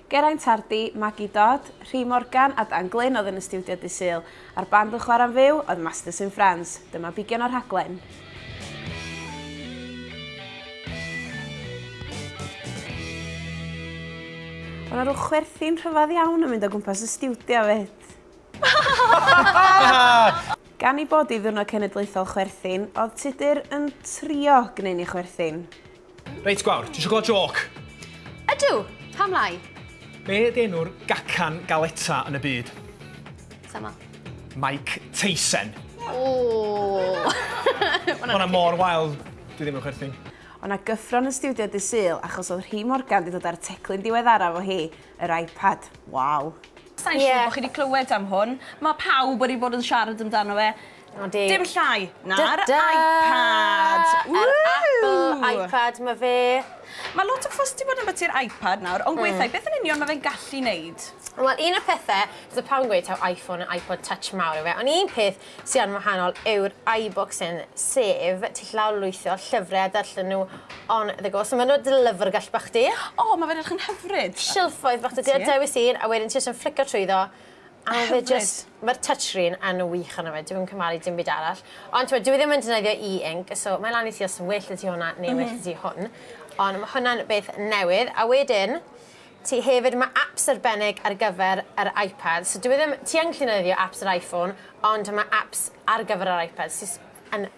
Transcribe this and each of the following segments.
Geraint Hardy, Maggie Dodd, Rhi Morgan a Dan Glyn oedd yn y stiwdio Dydd Sul, a'r band yn chwarae'n fyw oedd Masters in France. Dyma figion o'r rhaglen. Oedd yna rhyw chwerthin rhyfedd iawn yn mynd o gwmpas y stiwdio fyd. Gan ei bod hi Ddiwrnod Cenedlaethol Chwerthin, oedd Tudur yn trio gwneud ni chwerthin. Reit, gwawr, ti eisiau gweld joc? Ydw, pam lai? Be ydy enw'r gacan galeta yn y byd? Sama. Mike Tyson. Ooh. Hwna mor wael, dwi ddim yn chwerthin. O na gyffron yn studio dy syl achos oedd Rhi Morgan di dod ar y teclyn diweddara fo hi, yr iPad. Waw. Sain siŵr bod chi wedi clywed am hwn. Mae pawb wedi bod yn siarad amdano fe. O, di. Dim llai na'r iPad! Yr Apple iPad 'ma fe. Mae lot o fuss 'di bod ambiti'r iPad nawr, ond gweitha i, beth yn union mae fe'n gallu wneud? Wel, un o'r pethe, so pawb yn gweud taw iPhone a iPod Touch mawr yw e, ond un peth sy yn wahanol yw'r iBooks hyn, sef ti gallu lawrlwytho llyfrau a darllen nhw on the go. So maen nhw dy lyfrgell bach di. O, mae fe'n edrych yn hyfryd! Silffoedd bach 'da ti, a dewis un, a wedyn ti jyst yn fflico trwyddo, A ma' fe jyst... Ma'r touchscreen yn wych arno fe dwi'm yn cymharu dim byd arall. Ond t'mod dyw e ddim yn defnyddio e-ink so mae lan i ti os yn well 'da ti hwnna neu well 'da ti hwn. Ond ma' hwnna'n beth newydd. A wedyn ti hefyd ma' aps arbennig ar gyfer yr Ipad so dyw e ddim... Ti yn gallu defnyddio aps yr Iphone ond ma' aps ar gyfer yr Ipad sy js yn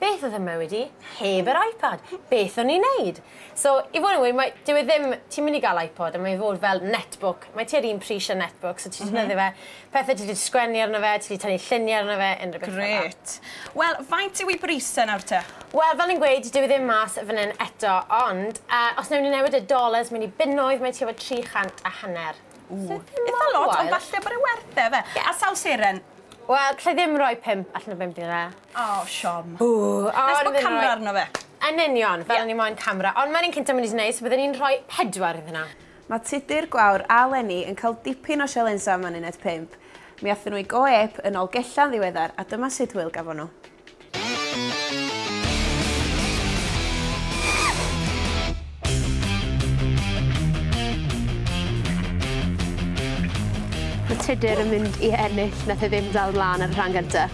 Beth oedd fy mywyd i heb yr iPad? Beth o'n i'n neud? So, i fod yn wir, mae, dyw e ddim, ti'n mynd i gael iPod a mae fod fel netbook, mae tua'r un pris â netbook, so ti'n defnyddio fe, pethau ti 'di sgwennu arno fe, ti 'di tynnu lluniau arno fe, unrhyw beth fel 'na. Grêt. Wel, faint yw ei bris e nawr te? Wel, fel o'n i'n gweud, dyw e ddim mas fan hyn eto, ond yy os newn ni newid y dollars mewn i bunnoedd, mae tua fo tri chant a hanner. Ww, itha lot, ond falle bod e werth e, ife? A sawl seren? Wel, alla i ddim rhoi pump allan o bump i fe. O, siom. Ww, o o'n i'n myn' i roi... Nes bo camra arno fe. Yn union, fel o'n i moyn camra, ond ma'r un cynta myn' i neis, bydden i'n rhoi pedwar iddyn nhw. Mae Tudur, Gwawr a Leni yn cael dipyn o sialensa am yn uned pump. Mi athon nhw i go ep yn ol gella'n ddiweddar a dyma sut hwyl gafon nhw. Mae Tudur yn mynd i ennill, nath e ddim dal mlan ar y rhan gynta.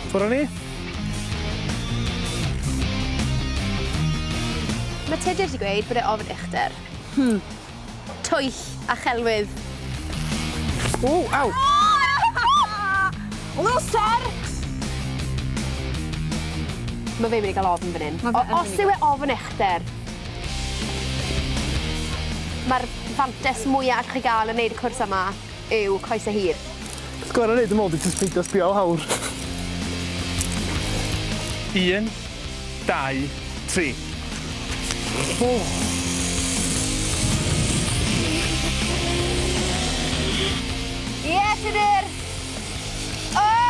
Ffwr a ni. Mae Tudur 'di gweud bod e ofn uchder. Hmm. twyll a chelwydd. Ww, aw! Lwser! Mae fe'n mynd i gael ofn fan hyn. Os yw e ofn uchder, mae'r fantais mwya allwch chi gael yn neud y cwrs yma. yw coese hir. Beth gorau wneud yn ôl di jyst peidio sbio o lawr. Un, dau, tri. Oh. Yes, it is! Oh!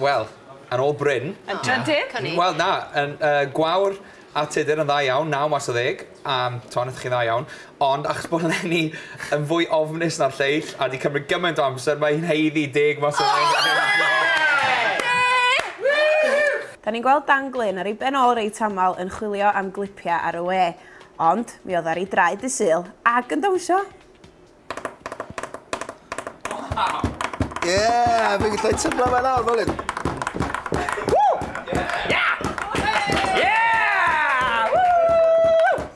Wel, yn ôl Bryn... Yn drydydd? Wel, na, yn yy gwawr a Tudur yn dda iawn, naw mas o ddeg, yym, t'mo' nathoch chi dda iawn, ond achos bo' Leni yn fwy ofnus na'r lleill a 'di cymryd gymaint o amser mae hi'n haeddu deg mas o ddeg. O! Ie! Woo! 'Da ni'n gweld Dan Glyn ar ei ben ôl reit aml yn chwilio am glipia ar y we, ond mi odda ar ei draed dy' Sul ag yn dawnsio! Yeah, fi'n gallu tyblo fe lawr, fel hyn.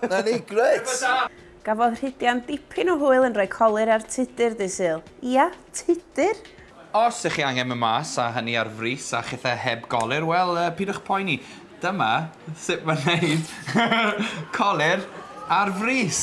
Na ni, gret! Gafodd Rhydian dipyn o hwyl yn rhoi colur ar Tudur dydd Sul. Ia, Tudur! Os ych chi angen mynd mas, a hynny ar frys, a chithau heb golur, wel, pidwch poeni. Dyma sut mae'n neud colur ar frys.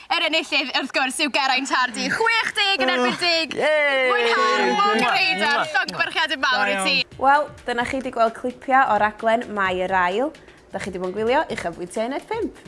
Yr enillydd, wrth gwrs, yw Geraint Hardy. 60 yn erbyn deg! Mwynhau, mwg yr heidar, llong byrchiad yn mawr i ti! Wel, dyna chi 'di gweld clipiau o raglen Mae Yr Ail. Dach chi 'di bod yn gwylio i Uchafbwyntiau Uned 5.